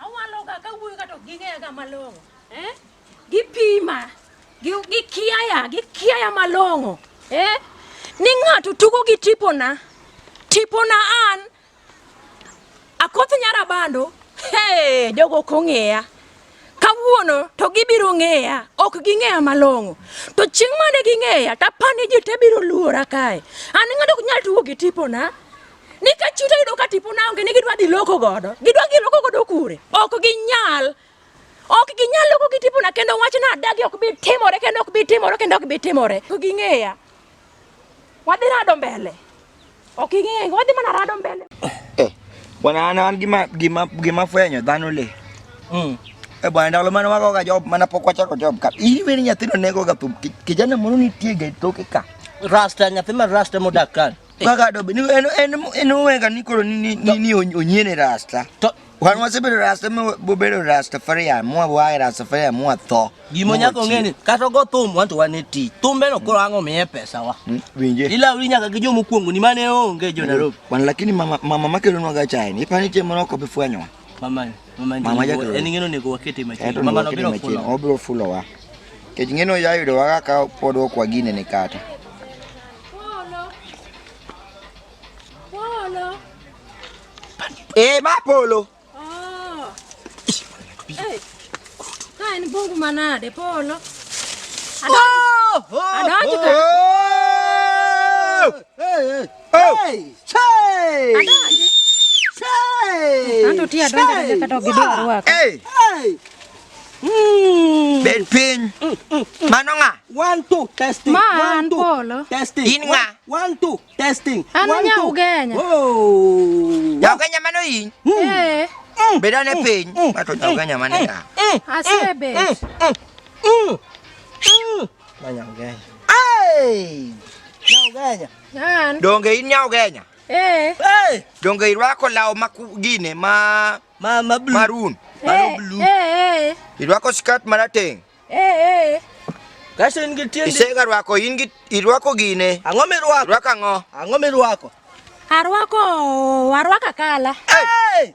Awaloga ka wuoyo ka to ging'eyaga malong'o. Eh? Gipima. Gikiaya, gikiaya malong'o. Eh? Ni ng'ato tugo gi tipona. Tipona an. Akoth nyara bando. Hey, jogo ok ong'eya. Kawuono to gibiro ng'eya. Ok ging'eya malong'o. To chieng' mane ging'eya, tapani ji te biro luora kae. An ng'ato ok nyal tugo gi tipona. Nikech chuta yudo ka tipo naonge ni gidwa dhi loko godo. Gidwa gi loko godo kure? Ok ginyal. Ok ginyal loko gi tipo na kendo wach na adagi ok bi timore kendo ok bi timore kendo ok bi timore. Ok ging'eya. Wadhi rado mbele. Ok ing'eya. Wadhi mana rado mbele. Eh. Bwana ana an gima gima gima fwenyo dhano le. Mm. E eh, bwana ndalo mane wago ga job mana pok wachako job ka. Iri weni nyathino nego ga thum. Kijana moro nitie ga toke ka. Rasta nyathi ma rasta modak kan. Kaka dobe ni en en en wenga ni koro ni ni ni onyiene rasta. To wan wasebedo rasta ma bobedo rasta faria mwa wae rasta faria mwa tho. Gimo nyako ngeni kata go thum wanto wan e tich. Thumbe no koro ango miye pesa wa. Hmm, winje. Ila uri nyaka gi jomo kuongo ni mane onge jo Nairobi. Wan lakini mama mama makelo nwa ga chai ni pani chemo no ko bifwenyo. Mama, mama, Mama jago. jago. En ng'eno nego wakete machiegni. Ento Mama nokete nobiro machiegni, fulo. obiro fulowa. Kech ng'eno yayudo waga ka pod ok wagine ni kata. Eh, ma polo. Oh. Hey. Ka en bungu manade polo. Adonjo ka. Bed piny. Mano ng'a? One two testing. Ma an polo. Testing. In ng'a? One two testing. An nya ugenya. Oh. Ya ugenya mano in. Eh. Beda ne piny. Mato nya ugenya mano ya. Asebe. Nyanya ugenya. Hey! Nyanya ugenya. Nan. Donge in nyanya ugenya? Eh. Hey! Donge irwako law ma gine ma ma ma blue. Maroon. Hey, blue. Eh, eh. Irwako skirt marateng. Eh, eh. Kaso in gi tiende. Isega rwako in gi irwako gine. Ang'o mirwako? Rwako ang'o? Ang'o mirwako? Arwako, arwako kala. Hey! hey!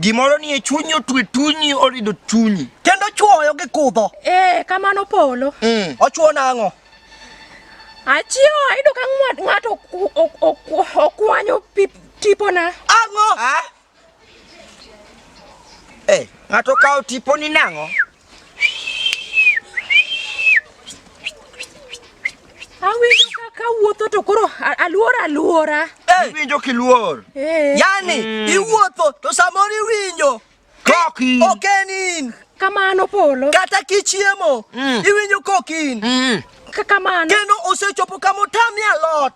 Gimoro ni e chunyi otwe tunyi orido chunyi. Kendo chuoyo gi kudho. Eh, kamano polo. Mm. Ochuo nang'o? Achio ayudo ka ng'ato okwanyo tipona. Ang'o? Ah? Eh, ng'ato kawo tiponi nang'o? Awinjo kaka wuotho to koro aluor aluora. Iwinjo kiluor. Eh. Yani mm. iwuotho to samoro iwinjo. Koki. Ok en in. Kamano polo. Kata kichiemo. Mm. Iwinjo koki in. Mm. Kamano. Kendo osechopo kama otamie alot.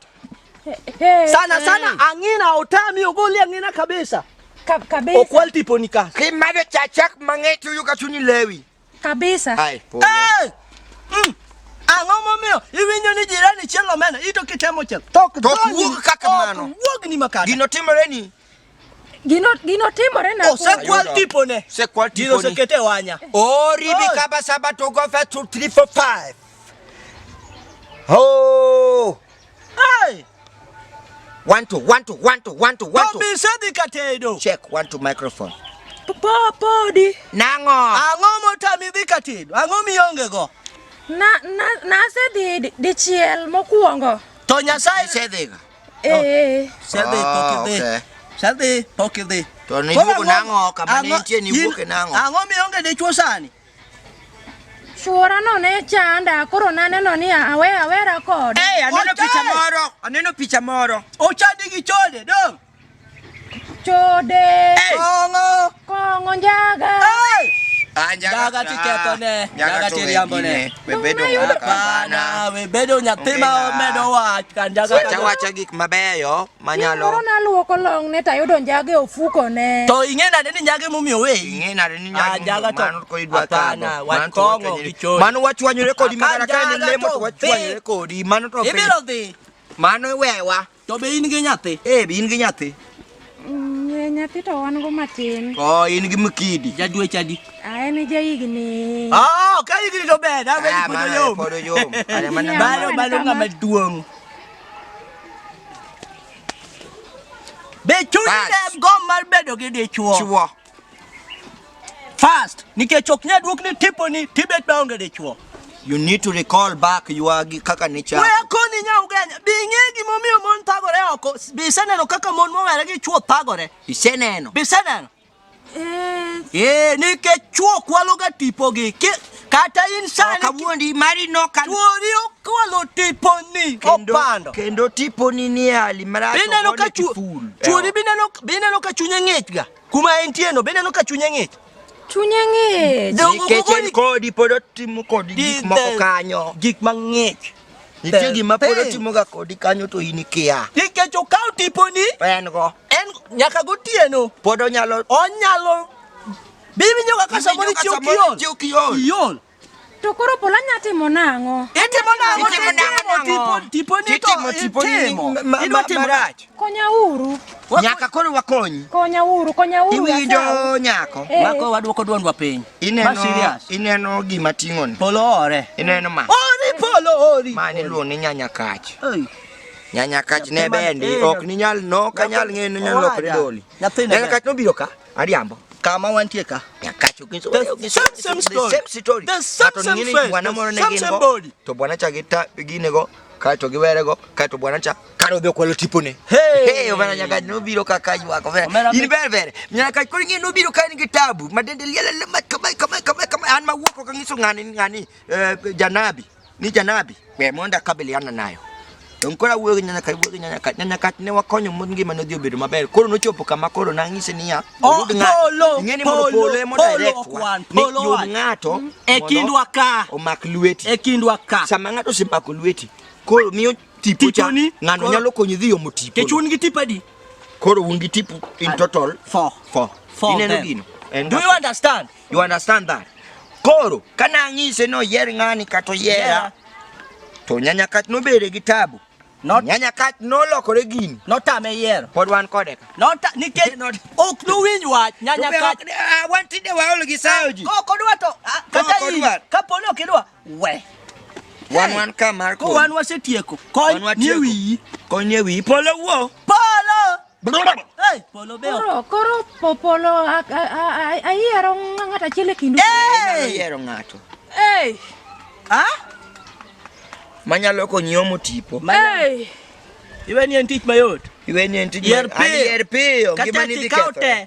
Hey, sana hey. sana angina otami ogoli angina kabisa Ka kabisa okwal tipo ni ka ki mado chachak mangeti uyu kachuni lewi kabisa hai polo hey! mm. ang'o momiyo iwinjo ni jirani chielo mena ito kitemo chiel tok wuog kaka mano wuog ni makare gino timore ni Gino gino timore na. Osekwal oh, tipone. Osekwal tipone. Gino sekete wanya. Ori oh, bikaba saba to go fa 2 3 4 5. Oh. Hey. One to one to one to one to one to. Bobi sadi katedo. Check one to microphone. Podi. Nango. Ango motami dhi katedo. Ango mionge go. Na na na se di di chiel mokuongo. To Nyasaye se dhiga. Shelby, ah, pokidhi. Okay. Shelby, pokidhi. To ni wuok nang'o kama ne nitie ni wuok nang'o? Ang'o mi onge dichwo sani? Chuora no ne chanda, koro naneno ni awe awera kode. Eh, hey, aneno picha moro, aneno picha moro. Ochandi gi chode, dong. Chode. Kongo. Kongo njaga. Ah, njaga tiketo ne. Njaga tiriambo ne. Webedo ngakabana. Webedo nyathi ma omedo wach kan njaga. Wacha wacha gik mabeyo manyalo. Moro naluoko long ne tayudo njaga e ofuko ne. To ing'e nade ni njaga emomiyo we? Ing'e nade ni njaga ah, njaga to mano ko idwa tano. Wan kongo gichoni. Mano wachwanyore kodi mara ka ne lemo wachwanyore kodi. Mano to. Ibiro dhi. Mano iwewa. To be in gi nyathi? Eh, be in gi nyathi? Mm, eh, nyathi to wan go matin. Oh, in gi mkidi. Jadwe chadi. Ah, en ja higni. Oh, ka higni to ber, da ber podo yom. Podo yom. Are mana balo balo ngama duong. Be chuni dem go mar bedo gi dichuo. Chuo. First, nikech ok nyal duok ni tipo ni Tibet baonge dichuo. You need to recall back you are kaka ni cha. Wewe koni nya ugenya. Bi ng'e gima omiyo mon thagore oko. Bi iseneno kaka mon mowere gi chuo thagore. Iseneno. Bi iseneno. Eh. Eh, nikech chuo kwaloga tipogi. Kata insani. Kawuondi mari no kan. Chuori okwalo tiponi. Opando. Kendo tiponi ni hali marach. Bineno ka chuo. Bineno bineno ka chunye ng'ich ga. Kuma entie no bende no ka chunye ng'ich. Chunye ng'ich. Nikech en kodi pod otimo kodi gik moko kanyo. Gik mang'ich. Nitie gima pod otimoga kodi kanyo to in ikia. Nikech okawo tiponi. En go. En nyaka gotieno. Pod onyalo. Onyalo. Bibi nyoka ka samoro chiw kiol. Chiw kiol. To koro pola nya timo nang'o? Itimo nang'o? Itimo nang'o? Tipo ni to tipo ni idwa timo rach. Konya uru. Nyaka koro wakonyi. Konya uru, konya uru. Iwinjo nyako. Eh. Mako wadwoko dwondwa piny. Ineno ineno gima ting'o ni. Polo ore. Ineno ma. Ori polo ori. Mani luo ni nyanya kach. Ei. nyanya kach ne bendi ok ninyal no kanyal ng'eyo ninyal lokore doli nyanya kach nobiro ka Ariambo. Kama wantie ka. Nyakacho kinso. The same same story. The same story. The same same friend. Bwana moro ne gimbo. To bwana cha gita gine go. Kae to giwere go. Kae to bwana cha. Karo bi okwalo tipone. Hey. Hey, obana nyaka no biro kaka jwa ko. In ber ber. Nyaka kuri ngi no biro kan gi tabu. Madende liela le mat kama kama kama kama an ma wuok ko kangiso ngani ngani eh, janabi. ni janabi we mondo akabiliana nayo Donge koro awuoyo gi nyanya ka awuoyo gi nyanya ka nyanya ka ne wakonyo mon ngima ne odhi obedo maber koro nochopo kama koro nang'ise niya Oh, oyud ng'ato. polo, Ing'e ni mondo polo, polo ema polo direct ok wa, wan, ni polo yud wan. ng'ato Mm, e mondo kindwa ka. omak lweti e kindwa ka sama ng'ato osemako lweti koro miyo tipo cha Tiponi, ng'ano koro- nyalo konyi dhi omo tipo kech un gi tipo adi koro un gi tipo in total Four. four Four ineno then. gino En Do you understand? You understand that? Koro kana ang'ise no yer ng'ani kato yera to nyanya kat nobere gi tabu. Not nyanya kat nolokore gini. Notame yer. Pod wan kode ka. Not nikech not ok nowinj wach nyanya kat. Ah, wan tinde waol gi sayo ji. Kok odwa to ah, kata in kapo ni ok idwa we. Wan wan ka mar ko. Wan wasetieko. Kony nie wiyi. Kony nie wiyi. Polo wuo. Polo. Hey, polo beo. Koro, koro popolo ayiero ng'ato achiel e kindu. Ayiero ng'ato. Hey. Ha? Manyalo konyi omo tipo. Hey. Iwe ni en tich mayot. Iwe ni en tich mayot. Yer piyo. Yer piyo. Gima ni dhi ketho.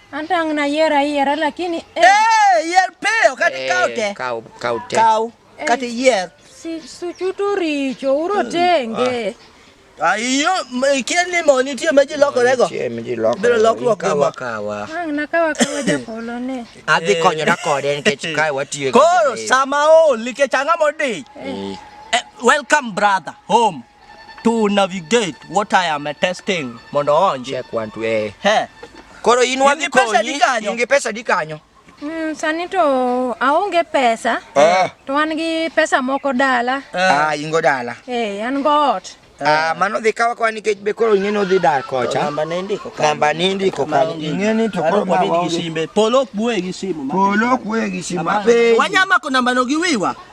Hata unayiera yiera lakini eh. Eh, yier piyo kati eh, kaw te. Kaw kaw te. Kaw eh, kati yier. Si suchutu richo uro hmm. tenge. Ah. Ayo, ah, kien ni mo ni tie meji loko rego. Tie meji loko. Biro loko loko kawa kawa. Ang ah, na kawa kawa ja polo ne. Adhi konyo da kode nikech kae watiyo. Koro sama o like changa modi. Welcome brother home. to navigate what I am testing mondo onje. Check one to A. He. Koro in wadhi konyi. In gi pesa di kanyo. Mm, sani to aonge pesa. Eh. To an gi pesa moko dala. Eh. Ah, ingo dala. Eh, an go ot. Eh. Ah, mano dhi kawa kwa nikech be koro ing'e ni odhi dar kocha. Namba ne ndiko kanyo. Namba ne ndiko kanyo. Ing'e ni to koro ma waonge. Polo ok buoye gi simu. Polo ok buoye gi simu. Wanyama ko namba no gi wiwa.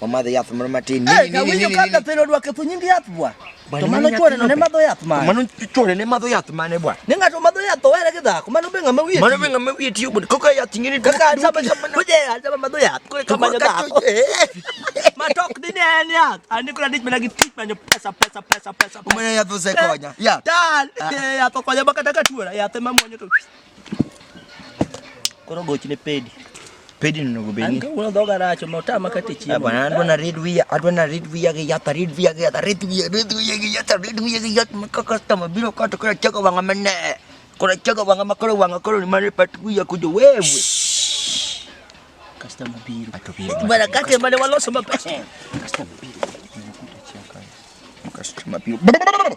Omadho yath moro matin. Eh, kawinjo ka dathero odwake thu nying yath bwa. To mano chwore ne madho yath mane. Mano chwore ne madho yath mane bwa. Ne ng'ato madho yath to were gi dhako. Mano be ng'ama wiye. Mano be ng'ama wiye tiyo bwa. Kaka yath ng'ini to. Kaka sama sama kuje sama madho yath. Kore kama madho dhako. Matok ni ne en yath. Ani kuna dich mana gi tich manyo pesa pesa pesa pesa. Umene yath osekonya. Yath. Tal. Yath okonya bakata ka chwora. Yath ema mwonyo to. Koro gochne pedi. Pedi no onego bedni. An uno dhoga rach, ma otama kata chiemo. Eh, bwana, adwa na read wiya, adwa na read wiya gi yath, read wiya gi yath, read wiya, read wiya gi yath, read wiya gi yath, maka customer biro kato kora chego wanga mane. Kora chego wanga makoro wanga koro ni mane pat wiya kujo wewe. Customer biro. Ato biro. Bwana kate mane waloso maber. Customer biro. Customer biro.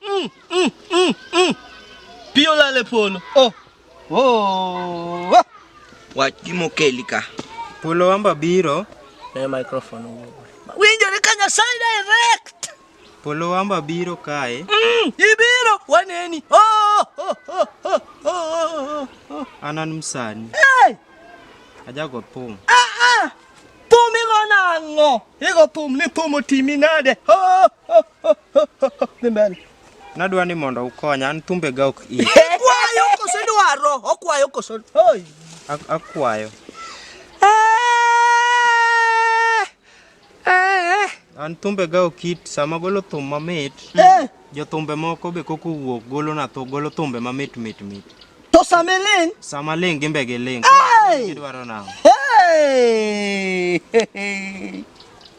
Mm, mm, mm, mm. Pi olal e polo. Oh. Oh. oh. Wach gima okeli ka. Polo wamba biro. Ne microphone owuok. Winjore ka Nyasaye direct. Polo wamba biro kae. Mm, ibiro waneni. Oh, oh, oh, oh, oh, oh. Anan msani. Hey! Ajago pum. Ah, ah. Pum igo nang'o? Igo pum ni pum otimi nade? Oh, oh. Dhi mbele. Nadwa ni mondo ukonya, an thumbe ga ok iyi. Kwayo koso dwaro, okwayo koso. Oi. Ak- Akwayo. An thumbe ga ok it sama golo thum mamit. Eh, Jothumbe moko be koko wuok golo na thu, golo thumbe mamit mit mit. to same ling. Sama ling gimbe gi ling. Hey! Gidwaro nang'o? Hey!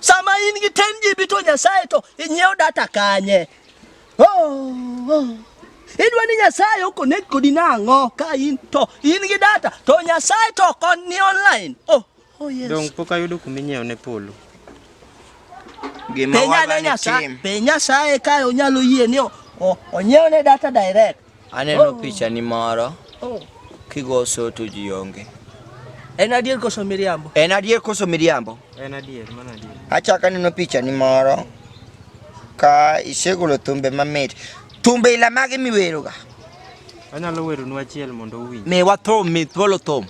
Sama in gi 10 GB to Nyasaye to inyiew data kanye? Oh, oh. Idwa ni Nyasaye okonek kodi nang'o ka in to in gi data to Nyasaye to kon ni online. Oh, oh yes. Dong pok ayudo kuma inyiew ne polo. Gima waga ni Nyasaye, pe Nyasaye ka onyalo yie ni onyiew ne data direct. Aneno oh. picha ni moro oh. kigo soto ji onge. En adier koso miriambo? En adier koso miriambo? En adier, mano adier. Achaka neno picha ni moro ka isegolo thumbe mamit. Thumbe ila mage miweroga? Anyalo weronu achiel mondo uwinj. Mi wathum, mi thuolo thum.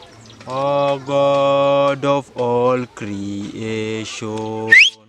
O oh, God of all creation.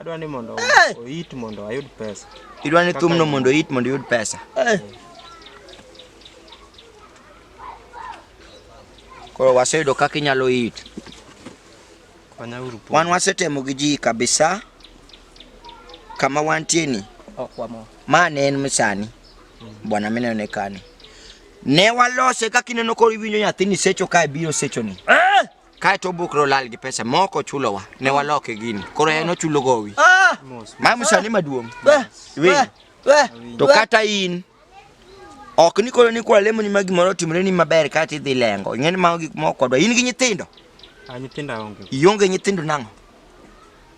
Adwa ni mondo oit mondo ayud pesa. Idwa ni thumno mondo oit mondo iyud pesa. Eh. Koro waseyudo kaka inyalo it. Wan wasetemo gi ji kabisa kama wantie ni. Ma ne en misani. Mm. Bwana mine ne kani. Ne walose kaka ineno koro iwinjo nyathini secho kae biro sechoni. Eh! Kae to obukre olal gi pesa mok ochulowa ne waloke gini. Koro en ochulo gowi. Ah! Mamu sani maduong'. Weh! Weh! Weh! Weh! To kata in ok ni koro ni kwa lemo ni ma gimoro otimre ni maber kata idhi lengo. Ing'e ni mago gik moko kodwa. In gi nyithindo. Ah, nyithindo aonge. Ionge nyithindo nang'o?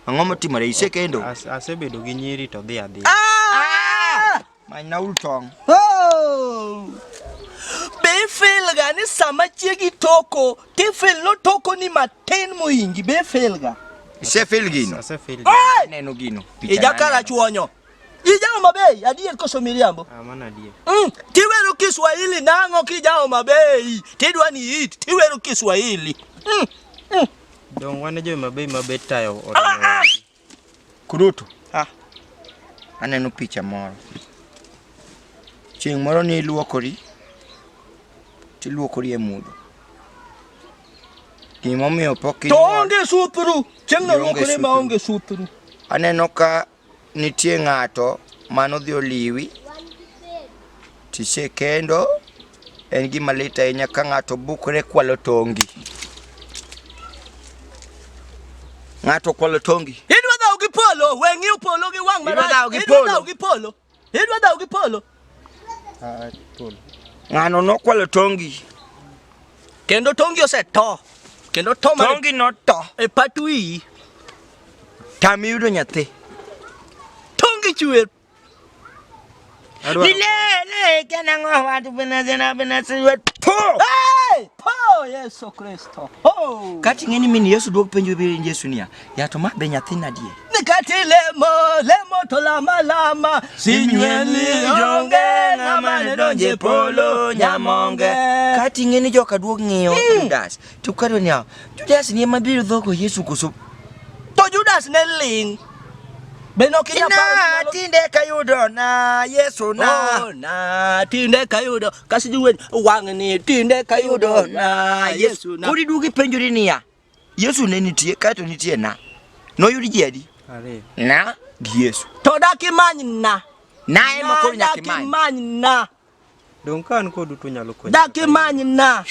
Ang'o motimore? Isekendo? As- Asebedo gi nyiri to dhi adhi. Ah! Manynauru tong'. Oh! Be ifilga ni sama chiegi toko, tifil notoko ni matin mohingi? Be ifilga? Isefil gino? Asefil. Hey! Aneno gino. Picha Ija naneno. kala chuonyo. Ija Homa Bay, adier koso miriambo? Ah, mano adier. Mm, tiwero Kiswahili nang'o kija Homa Bay? Tidwa ni it, tiwero Kiswahili. Mm, mm. Donge wan e jo Homa Bay ma be tayo Ah, ah. Kurutu, ah, aneno picha moro. Chieng' moro ne iluokori, tiluokori e mudho. Gimomiyo pok To inyuol- onge sutru. Chieng' no Ionge luokore ma sutru. onge sutru. Aneno ka nitie ng'ato manodhi oliwi, tisekendo, En gima lit ahinya ka ng'ato bukre kwalo tongi. Ng'ato kwalo tongi. Idwa dhaw gi polo, we ng'iyo polo gi wang' marach. Idwa dhaw gi polo. Idwa dhaw gi polo. Idwa dhaw gi polo. Ah, polo. Ng'ano nokwalo tongi. Kendo tongi oseto. Kendo to mane. Tongi noto. E pat wiyi. Tam yudo nyathi. Tongi chwer Milele kana ngo watu bena zena bena siwe to. Hey! Po Yesu Kristo. Oh. Kati ngeni mini Yesu dok penjo bi Yesu niya. Ya to ma be nyathina die. Nikati lemo lemo to lama lama sinyweli jonge na mane donje polo nyamonge. Kati ngeni joka duok ngiyo Judas. To kare niya, Judas ni ema biro dhogo Yesu koso? To Judas ne ling'. Be nok inya paro ni nyalo- tinde kayudo na Yesu na. Oh, na tinde kayudo kasi juwen wang'ni tinde kayudo na Yesu na. Koro iduogo ipenjori niya, Yesu ne nitie kae to nitie na. Noyud ji adi? Ariyo. Na gi Yesu. To dak imany na. Na ema koro nyaka imany. Dak imany na. Donge ka an kodu to unyalo konyo? Dak imany na.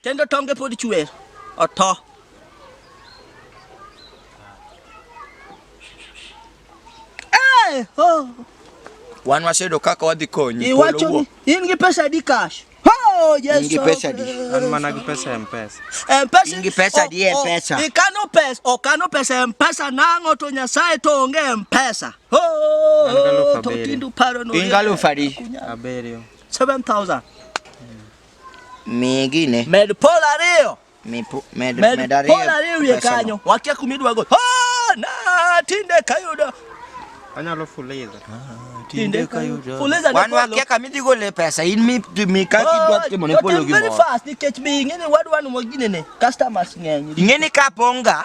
Kendo tonge pod chwer. Oto. Eh, ho. Wan wasedo kaka wadhi konyi. Polo Iwacho wuo. ni in gi pesa adi cash? Ho, Yesu. In gi pesa adi? An mana gi pesa ya Mpesa. Mpesa. In gi pesa adi e pesa? Ikano pesa, okano pesa e Mpesa nang'o to Nyasaye to onge e Mpesa. Oh, totindu paro no. Ingalo fari. Aberio. 7000. Migine. Med pol ariyo. Med, med, med ariyo. Pol ariyo wiye kanyo. Wakia kumidwa go. Oh, na tinde kayudo. Anyalo fuliza. Ah, tinde kayudo. Fuliza. Wan wakia kamidhi go le pesa. In mi mi ka kidwa oh, timo ne polo gi. Very fast nikech bi ingene wadwa no mogine ne. Customers ng'eny. Ingene ka ponga.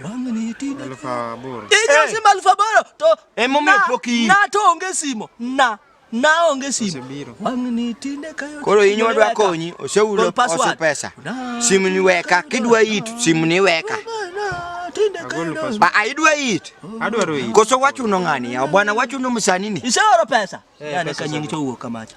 Aluf aboro. Inyalo simo aluf aboro to Emomiyo na- pok iyi. na to onge simo na na onge simo Osebiro. wang'ni tinde kayo Koro in wadwa konyi, oseulo Gol password. oso pesa. Na- Simu ni weka, kidwa it, simu ni weka. Na, tinde kayo Agolo na- password. Ba a idwa it. Adwaro iyi. Koso wachuno ng'ani ya bwana wachuno msani ni. iseoro pesa Eh, yani pesa kanying' osebiro. chowuok kamacha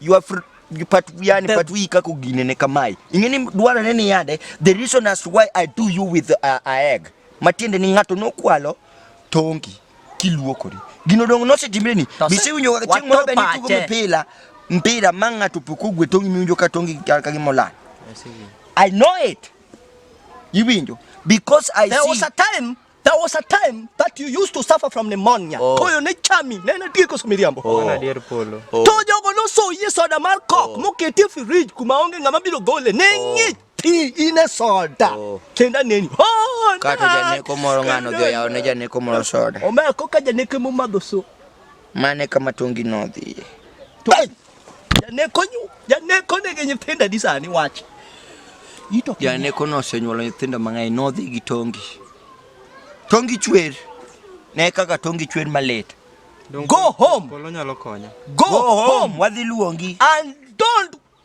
You are free pat yani pat wi kako gine ne kamae ingeni dwara ne ni yade the reason as to why i do you with a, uh, a egg matiende ni ngato nokwalo tongi kiluokori gino dong nosetimre ni bisewinjo kaka chieng moro bende tugo mpira mpira ma ngato pok ogwe tongi miwinjo ka tongi ka gimola i know it iwinjo because i there see, was a time There was a time that you used to suffer from pneumonia. Oh. Koyo ne chami, ne na tieko somiriambo. Oh. Ana dier polo. Oh. To jogo noso yie soda mar kok oh. moketi e fridge kuma onge ng'ama biro gole. Ne oh. ng'ich ti in e soda. Oh. Kenda neni. Oh, Kata janeko moro ng'ano dhi oyawone janeko moro soda. Omeko ka janeko momadho so. Mane kama tongi nodhiye. Janeko nyu, janeko ne gi nyithindo adi sani wach. Ito janeko no osenyuolo nyithindo mang'eny nodhi gi tongi. Tongi chwer. Ne kaka tongi chwer malit. Go home. Polo nyalo konya. Go, Go home. home. Wadhi luongi. And don't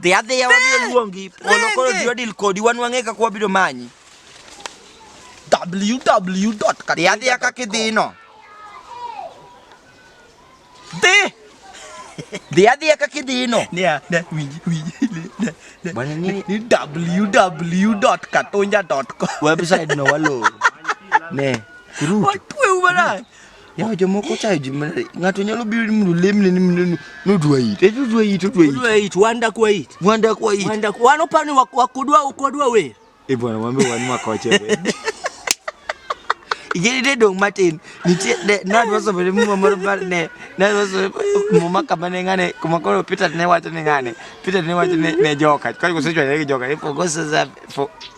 Dhi adhiya wadhi luongi polo koro ji odil kodi wan wang'e kaka wabiro manyi. www. Dhi adhiya kaka idhino. Dhi. Dhi adhiya kaka idhino. Nia, ne, winji, winji. Bwana nini? Ni www.katonja.com. Website no walo. Ne. Ruto. Watu wewe bwana. Yawa jomoko chayo ji mare. Ng'ato nyalo biro ni mondo lemne ni mondo nodwa it. Eto dwa it, odwa it. Odwa it, wan dak wa it. Wan dak wa it. Wan dak wan oparo ni wak- wakudwa ukodwa wer. E bwana wambe wan makoche. Igeri de dong matin. Nitie de na dwa somo ne muma moro bar ne. Na dwa somo muma kama ne ngane kuma koro Peter ne wacho ne ngane. Peter ne wacho ne ne joka. Kwa kusechwa ne joka. Ipo gosa za for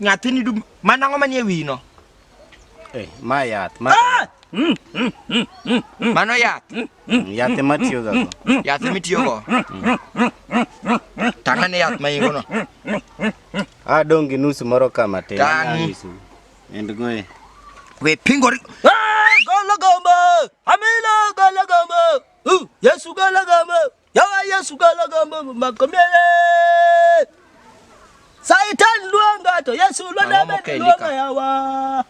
Nyathini dum, mana ng'o manie wino? Eh, ma yath, ma ah! mm, mm, mm, Mano yath. Yath ema tiyo ga go. Yath ema tiyo go. Tanga ne yath ma ingo no. Ah, dong gi nusu moro kama te. Tang. And go. Eh. We pingo. Ah, golo gombo. Amilo golo gombo. Uh, Yesu golo gombo. Yawa Yesu kalagamba makomele. Saitan luonga to Yesu luonga bende luonga yawa.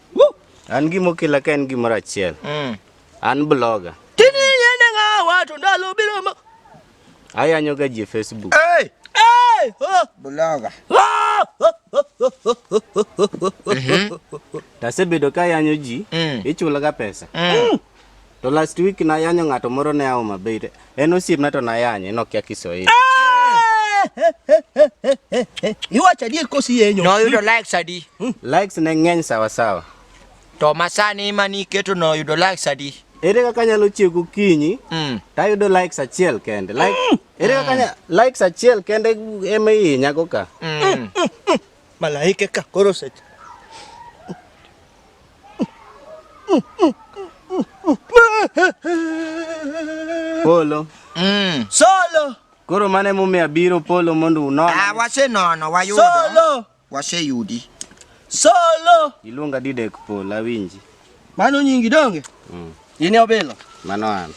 An gima okela ka en gimoro achiel. Mm. An blogger. Tini yende ng'awa to ndalo biro ma. Ayanyo ga ji Facebook. Hey! Hey! Oh! Blogger. Oh! Tasebedo ka yanyo ji, mm. ichulaga pesa. Mm. To last week nayanyo ng'ato moro ne Homa Bay. to En osiepna to nayanye, nokia Kiswahili. Iwacho adier kosi yenyo. Noyudo likes adi? Likes ne ng'eny sawa sawa. To masani ma niketo noyudo likes adi? Ere kaka anyalo chiew gokinyi Mm. tayudo likes achiel kende. Like, ere kaka anya- likes achiel kende ema ihinyago ka. Mm. Malaike ka koro seche. Polo. Mm. Solo. Koro mano emomiyo abiro Polo mondo unon. Ah, wasenono wayudo. Solo. Waseyudi. Solo. Iluonga Didek Polo awinji. Mano nyingi donge? Mm. In e obila? Mano an.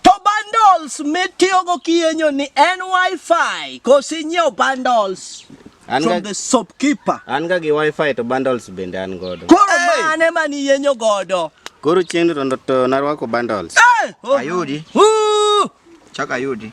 To bundles mitiyogo kiyenyo ni en wifi koso inyiewo bundles? An from the shopkeeper. An ga gi wifi to bundles bende an godo. Koro hey! mane mani yenyo godo? Koro chieng' to narwako bundles. Hey! Oh. Ayudi. Uh! Chaka ayudi.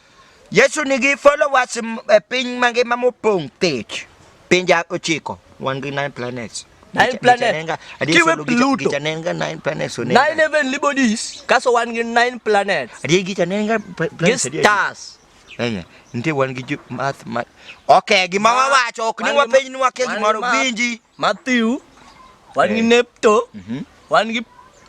Yesu nigi followers e piny mangima mopong' thich. Pinje ochiko, wan gi nine planets. Nine planets. Kiwe Pluto. Gicha nenga nine planets. Nine heavenly bodies. Kaso wan gi nine planets. Adiye gicha nenga planets. Gi stars. Enya, nitie wan gi math ma... Okay, gima wawacho, ok ni wapenj ni wakia gimoro, winji. Matthew, wan gi Nepto, mhm. wan gi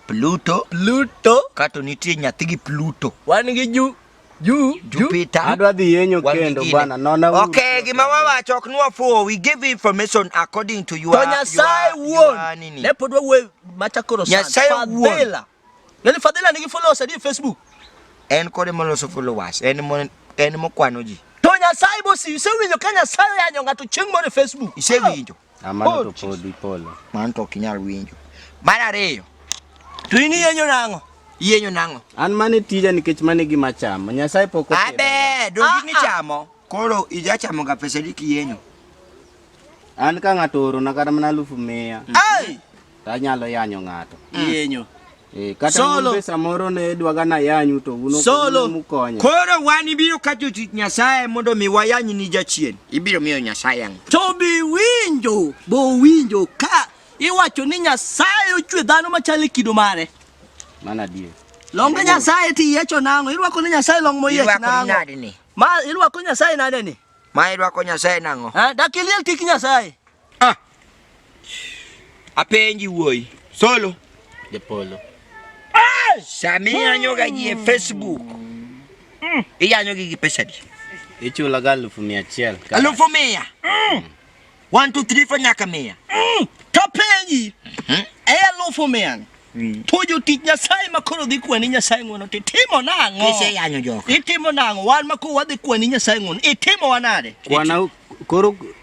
Pluto, Pluto, kato nitie nyathi gi Pluto. Wan gi Ju Ju Jupiter. Adwa dhi yenyo kendo bana. Nona uru. Okay, gima wawacho ok nwa fuwo. We give information according to your. To Nyasaye wuon. Ne pod wawuoyo machakoro sana. Nyasaye wuon. Nani Fadhila nigi followers adi e Facebook? En kode moloso followers, en mo en mokwano ji. To Nyasaye bosi isewinjo ka Nyasaye oyanyo ng'ato chieng' moro e Facebook. Isewinjo? Ah, mano to oh, pod ipolo. Mano to ok inyal winjo. Mar ariyo. To in iyenyo nang'o? Iyenyo nang'o? An mane tija nikech mane gima chamo. Nyasaye pok okelo. Abe, dongi ah, ah. nichamo. Koro ijachamo ga pesa di kiyenyo. An ka ng'ato oro na kata mana alufu mia. Ai! to anyalo yanyo ng'ato. Iyenyo. Eh, kata Solo. un be samoro ne dwaga nayanyu to un ok- Solo. un mukonya. Koro wan ibiro ka jotich Nyasaye mondo mi wayany ni jachien. Ibiro miyo Nyasaye ang'o? To be winjo, bo winjo ka iwacho ni Nyasaye ochwe dhano machal e kido mare. Mano adier. Long Nyasaye ti yiecho nang'o? Irwako ni Nyasaye long moyiech Irwako ni nang'o? nade ni? Ma irwako Nyasaye nade ni? Ma irwako Nyasaye nang'o? Ha, dak iliel tik Nyasaye. Ah. Apenji wuoi. Solo. Japolo. Ah, Samia nyoga ji Facebook. Mm. Iya nyoga gi pesa di. Ichula ga alufu mia chiel. Alufu mia. Mm. One, two, three, four nyaka mia. Mm. Kapenji. Mm -hmm. E alufu mia. Mm. To jotich Nyasaye ma koro dhi kwani Nyasaye ng'wono to itimo nang'o? Iseyanyo joka. Itimo nang'o? Wan ma koro wadhi kwani Nyasaye ng'wono, itimowa nade? Kwana koro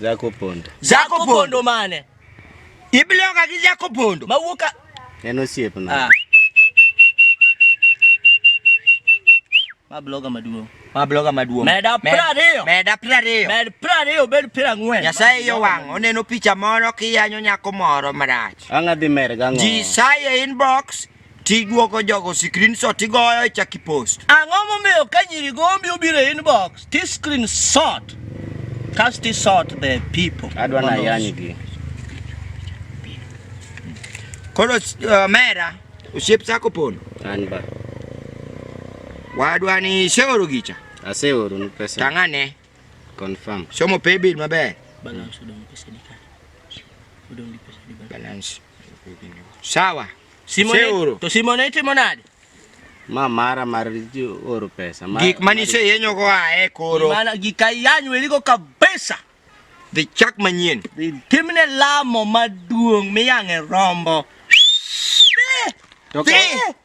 Zako pondo. Zako pondo mane? Ibiloka gi zako pondo. Mawuok ka En osiep na. Ah. Ma bloga maduong'. Ma bloga maduong'. Meda prariyo. Meda prariyo. Med prariyo bed pira ng'wen. Nyasaye yo wang' oneno picha moro kiyanyo nyako moro marach. Ang'adhi mer gang'o. Ji saye inbox Tiduoko jogo screenshot tigoyo ichak ipost. Ang'o momiyo ka nyiri gombi obiro e inbox ti screenshot kas ti sort the people. Adwa na yanygi. Koro uh, mera osiep sako pono. An ba. Wadwa ni seoro gicha. Aseoro ni pesa. Tang'ane. Confirm. Somo pay bill maber. Balance odong pesa di kare. Odong di pesa di balance. Balance. Sawa. Simone, Seuro. to Simone itimo nade? Ma mara mar oro pesa. Mara, gik mani se yenyo go ae koro. Mana gik ayanyo eligo kabisa. Dhi chak manyien. Timne lamo maduong' miyang'e rombo. Dhi. Dhi.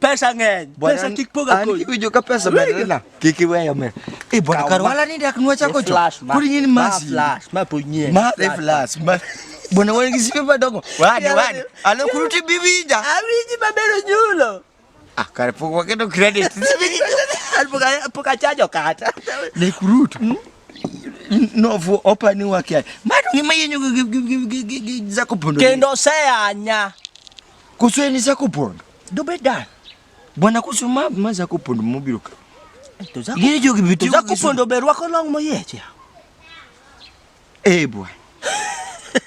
Pesa ng'eny. Bwana, Pesa kik poga an kodi. kiwinjo ka pesa medore na kik iweyo mer e bwana kar wala ni dak nwa chako cho kuri ngin masi flash ma po nyie ma e flash ma bwana wan gi sipe madongo wani wani alo kuru ti biwinja awinji mabero nyulo ah kare pok waketo credit pok achajo kata ne kurutu hmm? novu opani wake madu ngima yenyu zakupondo kendo seyanya kusweni zakupondo Dobedan. Bwana kusu ma ma za kupondo mobiro ka. To za Giri jogi biti. Za kupondo be rwako long moyeche. Eh bwana.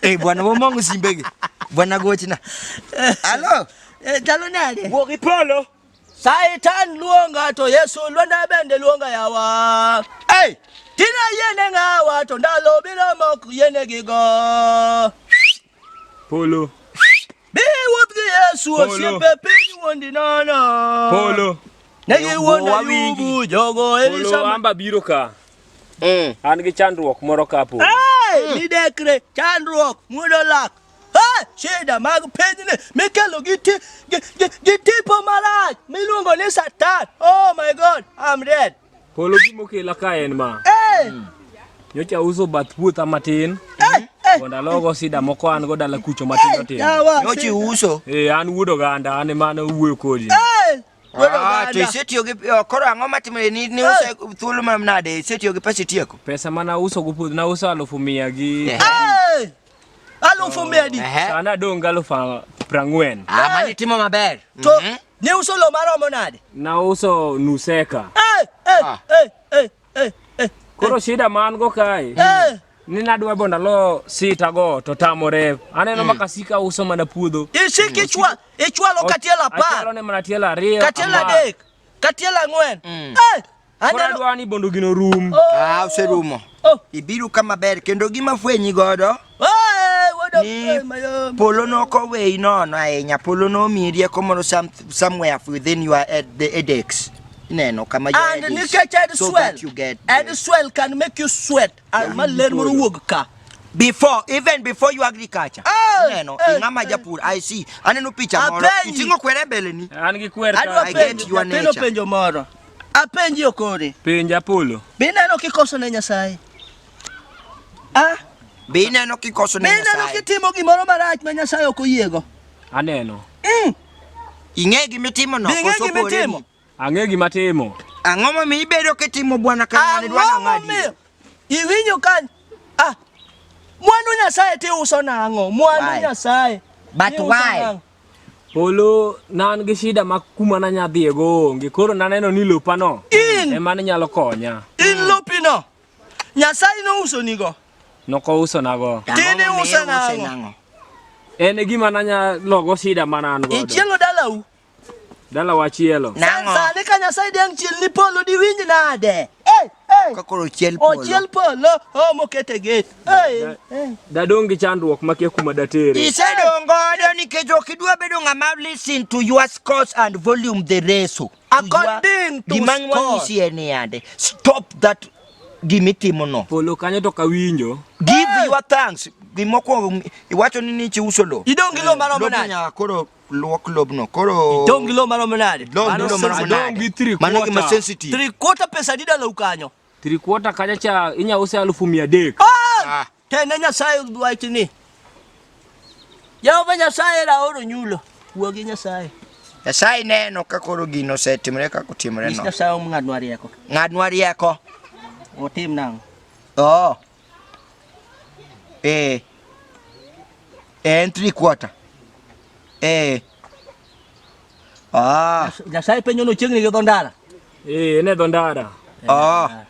Eh bwana wo mongo simbege. Bwana gochna. Halo. Eh talo nade? Wo kipolo. Satan luonga to Yesu lwanda bende luonga yawa. Hey! Tina yene ngawa to ndalo biro mok yene gigo. Polo. Be wuoth gi Yesu osiepe piny wuondi nono. Polo. Ne giwuondo yubu jogo Elisama. Amba biro ka. Mm. An gi chandruok moro ka po. Hey, midekre chandruok muodo lak. Hey, shida mag pinyni mikelo gi ti gi tipo marach miluongo ni Satan. Oh my God, I'm dead. Polo gima okela ka en ma. Nyocha uso bath puotha matin. Mondo alogo sida moko an go dala kucho matindo tindo. Yawa. Nyochi uso. Eh, an wuod oganda, an ema ne wuoyo kodi. Eh, wuod Ah, oganda. to isetiyo gi oh, koro ang'o matimore ni ni use thuolo manade isetiyo gi pesa itieko Pesa mana uso go puodho, na uso alufu mia gi Eh. Eh, Alufu medi. Ehe. Sana donga alufa prangwen. Ah, mani timo maber. To Mhm. ne uso lo maromo nade? Na uso nuseka. Eh, eh, Ah. eh, eh, eh, eh, Koro shida man go kae. eh. Ni nadwa bo ndalo sita go to tamore. Aneno makasika uso mana puodho. Isiki ichwa, ichwalo katiel Achalo apar, ne mana tielo ariyo. katiel ama- adek, katiel ang'wen. Mm. Eh, Koro adwa ni bondo gino rum. Oh. Ah, oserumo. Oh. Ibiru kama ber kendo gima fwenyi godo. Ni polo no ko we no no ahinya polo no mi rieko moro some, somewhere within your ed, the edX neno kama your and edX, nikech ed so swell you get ed uh, swell can make you sweat and ma ler moro wuog ka before even before you agriculture oh, neno oh, ing'ama oh. japur i see aneno picha moro iting'o kwere mbele ni an gi kwer ka i get your nature penjo moro Apenji okore. Penja Apollo. Be ineno kikoso ne Nyasaye? Ah? Be ineno kikoso ne Nyasaye? Be ineno kitimo gimoro marach ma Nyasaye ok oyiego? Aneno. Mm. Ing'e gima itimo no. Ing'e gima itimo. Ang'e gima atimo. Ang'o momiyo ibedo kitimo bwana kamano idwa nang'adi? Iwinjo ka ah mwandu Nyasaye ti uso nang'o? Mwandu Nyasaye. But why? Polo nan gi shida ma kuma na nya dhie go onge. Koro naneno ni lopa no In. e man nyalo konya. In lopi no. Nyasaye no uso ni go. Noko uso na go. Tini Ang'o uso momiyo nang'o? nang'o? En e gima nanya logo shida ma nan godo. Ichielo dalau. Dala wachielo. Nang'o? Sani ka Nyasaye dang' chiel ni polo di winj nade? kakoro chiel polo ochiel polo o mokete get dadong gi chandruok makia kuma datere isedong godo nikech ok idwa bedo ng'ama listen to your scores and volume the reso according to gima wanyisi en yande stop that gimitimo no polo kanyo to kawinjo give your thanks gimokwongo iwacho ni nichi uso lo idong gi lo maromo nade luok lobno koro itong' gi lo maromo nade? Mano gima sensitive. Three quarter pesa adi dalau kanyo? Three quarter kacha cha inya use alufu mia adek. Ah! ah. Tene Nyasaye wach ni. Jehova Nyasaye ra oro nyulo. Wuo gi Nyasaye. Nyasaye neno ka koro gino osetimore kaka otimore no. Nyasaye omng'adnwa rieko. Ng'adnwa rieko. Otim nang'o? Oo. Oh. eh, eh, and three quarter eh. Ah. Nyasaye penyo no chiegni gi dho ndara. Eh, ne dho ndara. Eh, ah.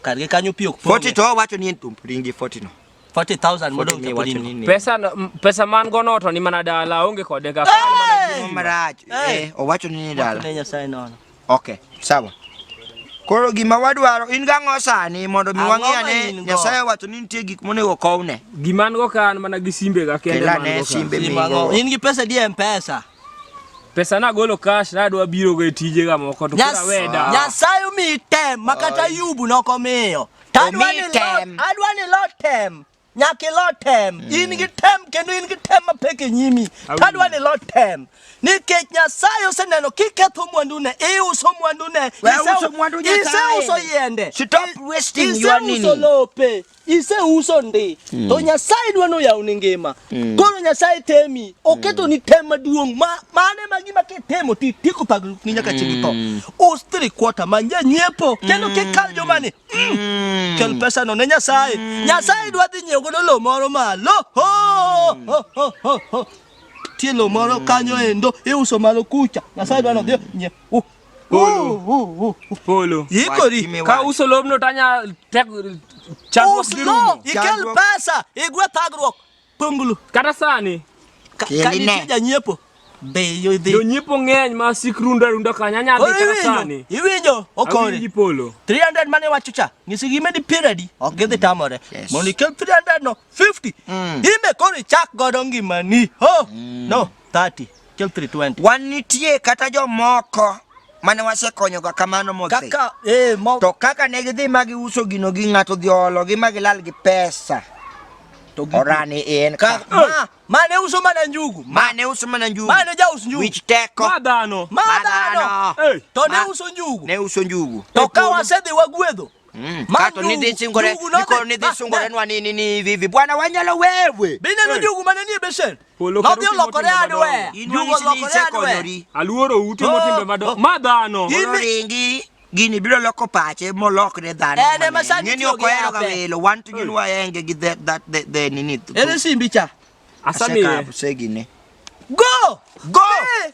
Kar gi kanyo pi ok pong'. 40 to wacho ni en tum ringi 40 no. 40,000 modong to podi ni. Pesa pesa man go no to ni mana dala onge kode ga. Marach. Eh, owacho ni ni dala. Ne Nyasaye nono. Okay, sawa. Koro gima wadwaro in gang'o sani mondo mi wang'e ane Nyasaye wacho ni nitie gik monego kowne. Gima an go ka an mana gi simbe ga kende man go. Simbe migo. In gi pesa di M-Pesa. Pesa na golo cash na dwa biro go e tije ga moko to kora weda. Nyasaye mi tem makata yubu nokomiyo. Tadwa ni lot, adwa ni lot tem. Nyaka ilo tem. Mm. In gi tem kendo in gi tem mapek e nyimi. Tadwa ni ilo tem. Nikech Nyasaye oseneno kiketho mwandune, iuso mwandune, iseuso yiende, iseuso lope, iseuso ndi. Mm. To Nyasaye dwa noyawni ngima. Mm. Koro Nyasaye temi, oketo ni tem maduong' ma mane ma gima kitemo ti tieko pagruok ni nyaka chieng' itho. Us three quarter manje nyiepo kendo kikal jomani Mm. Kel pesa no ne Nyasaye. Mm. Nyasaye dwa dhi nyiewo godo lo moro malo. Ho, ho, ho, ho, ho. Tie lo moro mm. kanyo endo iuso malo kucha. Nyasaye dwa no dhi nyiewo. Uh. Polo. Polo. Yikori. Ka uso lobno tanya tek chakruok gi rumo. Ikel pesa, igwe thagruok. Pongulu. Kata sani. Ka, ka nitie janyiepo. Be yudhi. Jonyiepo ng'eny ma sik rundo rundo kanya nyadhi kata sani. Iwinjo okore. Awinji polo. 300 mane wacho cha. Ngisi gi medi piradi. Ok gidhi mm. tamore. Yes. Mondo ikel 300 no 50. Mm. Ime kori chak godo ngimani. Ho. Mm. No. 30 till 320. Wan nitie kata jomoko mane wasekonyoga kamano modhi. Kaka, eh, mo... To kaka ne gidhi ma giuso gino gi ng'ato dhi ologi ma gilal gi pesa. To gi... Orani en ka. ka. Ma, ma ne uso mana njugu. Ma, ma ne uso mana njugu. Ma ne jauso njugu. Wich teko. Ma dhano. Ma dhano. Hey. To ne uso njugu. Ne uso njugu. To ka wasedhi wagwedho. Mm. Kato ni dhi singore, niko ni dhi singore nwa ni ni ni vivi. Bwana wanyalo wewe. Bine no jugu mane ni beshen. No bi lokore adwe. Jugu lokore adwe. Aluoro ute motimbe mado. Ma dhano. Ringi gini biro loko pache molokre dhano. Ene masani ni okoero ga welo. Wan to gin waenge gi that that the the nini. Ene simbi cha. Asami. Aseka apsegine. Go! Go! Hey!